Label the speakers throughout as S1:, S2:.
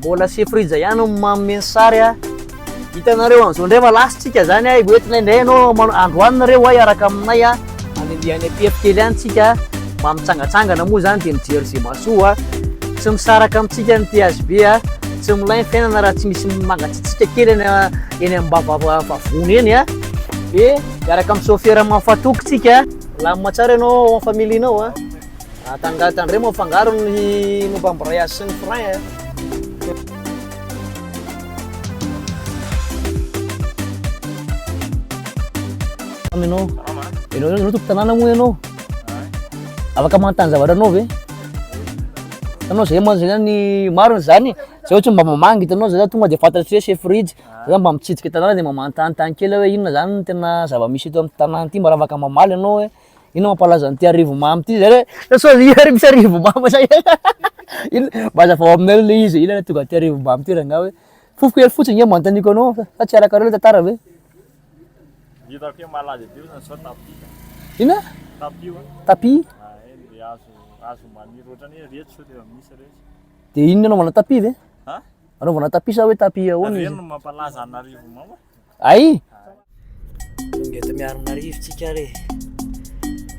S1: Mbola se frija ihany no manome ny sary a. Hitanareo an'izao indray fa lasintsika zany a, hoentina indray ianao manao androany nareo a hiaraka aminay a, handehandeha any am-pery kely any tsika a, mba mitsangatsangana moa zany dia mijery ze mahasoa a. Tsy misaraka amintsika ny THB a, tsy milay ny fiainana raha tsy misy mangatsiatsiaka kely eny a, eny am-bava vavony eny a. Dia miaraka amin'ny sôfera mahafaha toky tsika a. Milamina tsara ianao ao amin'ny familianao a. Ah, tanga, tandremo mo fangaro ny momba ambrayage sy ny frein eh. Aminao. Ianao ianao tompo tanàna moa ianao. Afaka manontany zavatra anao ve? Ianao zay moa zany ny maro zany. Zay ohatry mba mamangy itanao zay tonga dia fantatro hoe chef fridge. Zay mba mitsidika tanàna dia mba manontany tany kely hoe inona zany tena zava-misy eto amin'ny tanàna ity mba afaka mamaly ianao hoe Inona mampalaza an'ity Arivomamo ity zay hoe sao iza ary misy Arivomamo zay Inona mba azavao aminay le izy inona tonga aty Arivomamo ity rangaha hoe fofo kely fotsiny nge manontaniako anao sa tsy arakareo le tantara ve?
S2: Hitako hoe malaza ity fotsiny sao tapis. Inona?
S1: Tapis hono.
S2: Tapis? Ah, eny le
S1: hazo
S2: hazo maniry ohatran'ny hoe retsy sao dia misy retsy. Dia inona anaovana
S1: tapis ve? Ha? Anaovana
S2: tapis sa hoe
S1: tapis ahoana izy? Ireny no mampalaza
S2: an'Arivomamo. Ay!
S1: Eto Miarinarivo tsika re.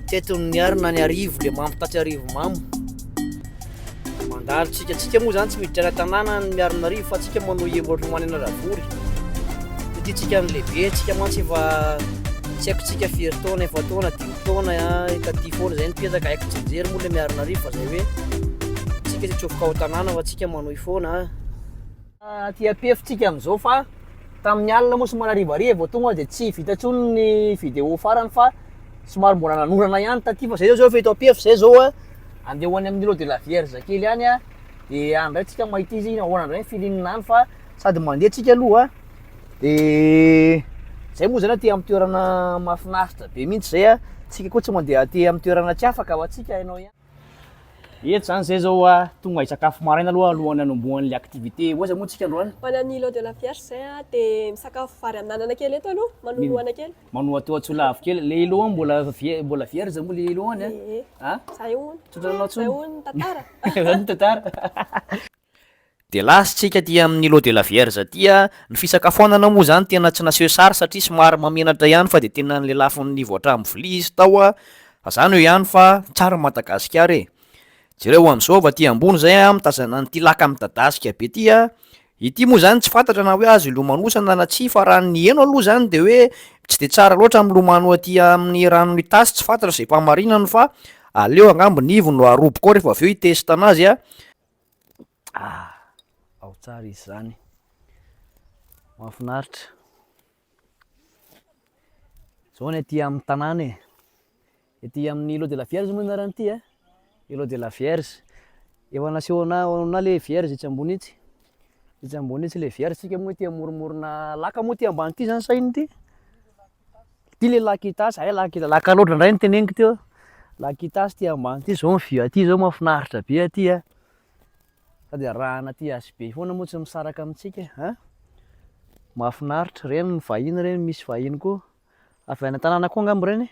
S1: Teto ny Miarina ny Arivo le mamo taty Arivo mamo. Mandalo tsika tsika moa zany tsy miditra any tanàna ny Miarinarivo fa tsika manao iembotra ho any Anaravory. Ity tsika ny lehibe tsika mantsy efa tsy haiko tsika firy taona efa taona dimy taona efa tia foana zay nipetraka haiko tsy mijery moa le Miarinarivo fa zay hoe tsika tsy tsofoka ao tanàna fa tsika manohy foana. Aty ampihefintsika amin'izao fa tamin'ny alina moa somary harivariva vao tonga dia tsy vita intsony ny vidéo farany fa somary mbola nanorana ihany taty fa izay zao efa eto ampiefy izay zao a andeha ho any amin'ny lot de la vierge kely any a dia any indray tsika mahita izy ahoana indray ny feeling any fa sady mandeha tsika aloha dia zay moa zany aty amin'ny toerana mahafinaritra be mihitsy zay a tsika koa tsy mandeha aty amin'ny toerana tsy afaka fa tsika hainao ihany Eto zany zay zao a, tonga hisakafo maraina aloha alohan'ny hanombohan'ilay activité. Ohaza moa tsika androany. Manana ny lot de la vierge
S3: zay a, de misakafo vary amin'anana kely eto aloha, manohanohana kely. Manoha teo Antsolavo
S1: kely. Le Ilo any mbola vie- mbola vierge moa le Ilo any a? Ee, zay
S3: hono. Tsodrano Zay intsony. hono ny tantara. Zay hono ny tantara.
S1: Dia last tsika aty amin ny lot de la vierge aty a, ny fisakafoanana moa zany tena tsy naseho sary satria somary mahamenatra ihany fa dia tena ny lelafiny nivoatra amin vilia izy tao a, fa zany eo ihany fa tsara ny Madagasikara e! Jereo an zao avy aty ambony zay a mitazana an ity laka midadasika be ty a, ity moa zany tsy fantatra na hoe azo ilomanosana na tsia fa raha ny heno aloha zany dia hoe tsy dia tsara loatra ny milomano aty amin ny ranon ny tasy, tsy fantatra izay fahamarinany fa aleo angamba ny ivony no aroboka ao rehefa avy eo hitest anazy a, Ah, ao tsara izy zany. Mahafinaritra. Zao ny aty amin'ny tanàna e. Ety amin'ny Îlot de la Vierge moa anarany ity eh. Îlot de la Vierge. Efa nasehona ona le Vierge etsy ambony etsy. Etsy ambony etsy le Vierge tsika moa ety amoromorona laka moa ety ambany ity zany sahiny ity. Ty le lakitasy, hay lakitasy, lakaloatra indray no teneniko teo, lakitasy ty ambany ty, zao ny vue aty zao mahafinaritra be aty a, sady arahana aty hazo be foana moa tsy misaraka amintsika e, an, mahafinaritra, ireny ny vahiny ireny, misy vahiny koa, avy any an-tanàna koa angamba ireny e,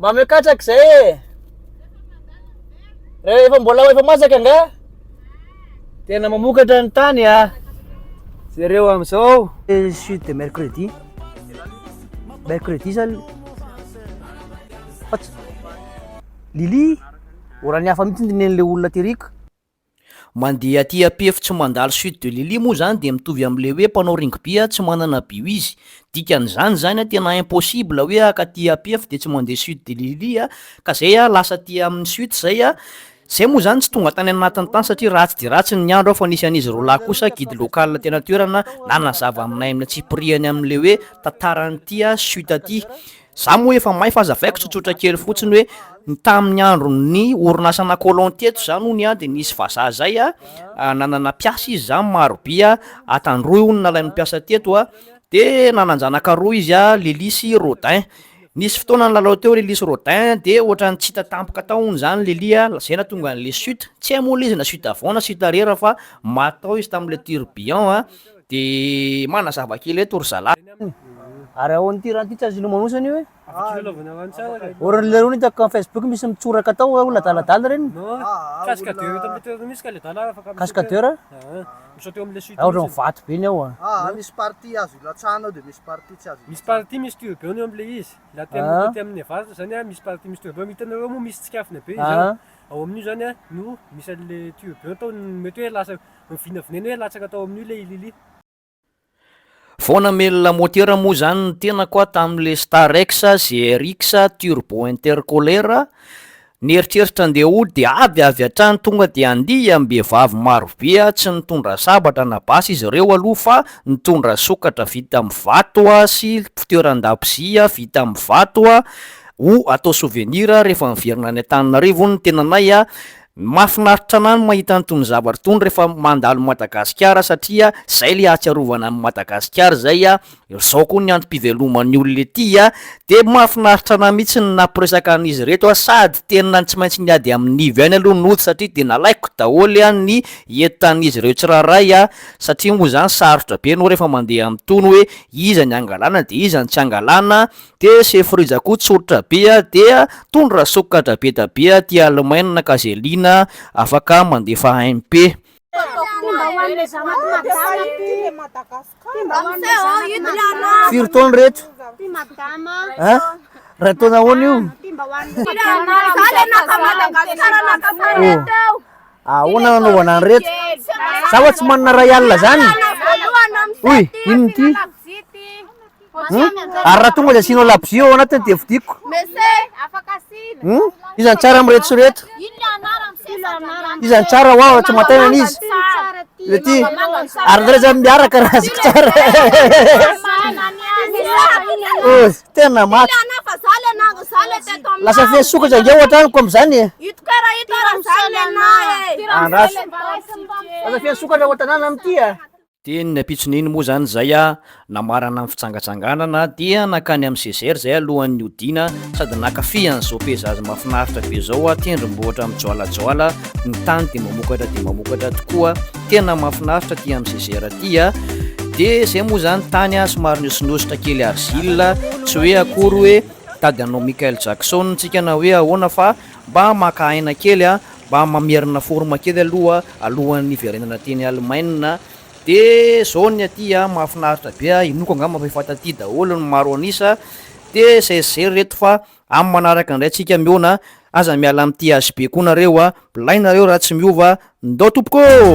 S1: Mba meo katraka izay e. Rehefa mbola ho efa masaka nga. Tena mamokatra ny tany a. Ah. Jereo amin'izao. Suite de mercredi. Mercredi zany. Lili, orany hafa mihitsy ny nen'ilay olona teriko. Mandeha aty ampefy tsy mandalo suite de Lily moa zany dia mitovy amle hoe mpanao ringby tsy manana bio izy, dikan'izany zany a tena impossible hoe haka aty ampefy dia tsy mandeha suite de Lily a, ka zay a lasa aty aminy suite zay a, zay moa zany tsy tonga tany anatiny tany satria ratsy dia ratsy ny andro a fa nisy an'izy roalahy kosa guide local teny an-toerana nanazava aminay aminy atsipirihany amle hoe tantaran'ity a suite aty Za moa efa may fa azavaiko tsotsotra kely fotsiny hoe ny tamin'ny andron'ny orinasana colon teto zany hono an de nisy vazaha zay an nanana mpiasa izy zany maro by an atan roy hono nalain'ny mpiasa teto an de nananjanaka roa izy an lily sy rodin nisy fotoana nilalao teo lily sy rodin de ohatrany tsy hita tampoka tao hono zany lily an zay natonga anle sut tsy hay moa le izy na sut avant na sut arrière fa maty tao izy tamle turbion an De manazava kely eto ry zalahy an! Ary
S4: ahoana ity raha ity tsy azonao manosa an'io e! Oran'ny le rony hitako am facebook misy mitsoraka tao hoe olona adaladala ireny! Cascadeur a? Za ohatran'ny vato be ny ao a! Aa
S5: misy partie azo
S6: ilatsahana ao de misy partie tsy azo ilatsahana. Vao vinavinainy hoe latsaka tao amin'io ilay i Lily.
S1: Vao namely lamotera moa izany ny tenako aho tamin'ilay Starex ZRX Turbo Intercooler. Nieritreritra handeha hody dia ady avy hatrany tonga dia andihy am-behivavy marobe. Tsy nitondra sabatra na basy izy ireo aloha fa nitondra sokatra vita amin'ny vato sy fitoeran-dakozia vita amin'ny vato ho atao souvenir rehefa miverina any Antananarivo ny tenanay. Ny mahafinaritra anah ny mahita an'itony zavatra itony rehefa mandalo Madagasikara satria zay le ahatsiarovana an'i Madagasikara zay a, zao koa ny antom-piveloman'ny olona ety a, de mahafinaritra anah mihitsy ny nampiresaka an'izy reto a, sady tena tsy maintsy niady amin'ivy ihany aloha nody satria de nalaiko daholo a ny entan'izy ireo tsirairay a, satria moa zany sarotra be anao rehefa mandeha amin'itony hoe iza ny angalana de iza ny tsy angalana Dia sefo rija koa tsoritra be a! Dia tondra sokatra be da be a! Tia alemaina ka ze liana afaka mandefa MP. Timba ho an'ilay zanak'i madama ty! Timba ho an'ilay zanak'i
S4: madama! Firy taona reto? Ty madama a! Ray taona ahoana io? Timba ho an'ilay madama a! Za le naka Madagasikara naka tany teo! Ahoana no anaovana an'ireto? Za wa tsy manana ray alina zany! Oy! Inona ity? Ary raha tonga dia asianao labozia ao anatiny dia vidiko. Iza no tsara amin'ireto sy ireto? Iza no tsara hoa tsy matainana izy? Lety. Ary ndray zany miaraka raha azoko tsara. Oh, tena maty. Lasa feno sokatra nge ohatra amiko amizany e. Andraso. Lasa feno sokatra ao an-tanàna amin'ity a. Teny ny
S1: ampitson'iny moa izany izay aho namarana ny fitsangatsanganana dia nankany amin'ny Cesaire izay alohan'ny hodiana sady nankafy an'izao paysage mahafinaritra be izao aho, tendrombohitra mijoalajoala, ny tany dia mamokatra dia mamokatra tokoa, tena mahafinaritra aty amin'ny Cesaire aty a! Dia izay moa izany tany a, somary nihosinosotra kely argile, tsy hoe akory hoe tady anao Michael Jackson tsika na hoe ahoana fa mba maka aina kely a! Mba mamerina forme kely aloha alohan'ny hiverenana teny Alemaina dia zao ny aty a, mahafinaritra be a, inoako angamba fa efa taty daholo ny maro an'isa dia zay sy zay ry reto fa amin'ny manaraka indray tsika mihaona, aza miala amin'ity HB koa nareo a, mplay nareo raha tsy miova, ndao tompoko ô!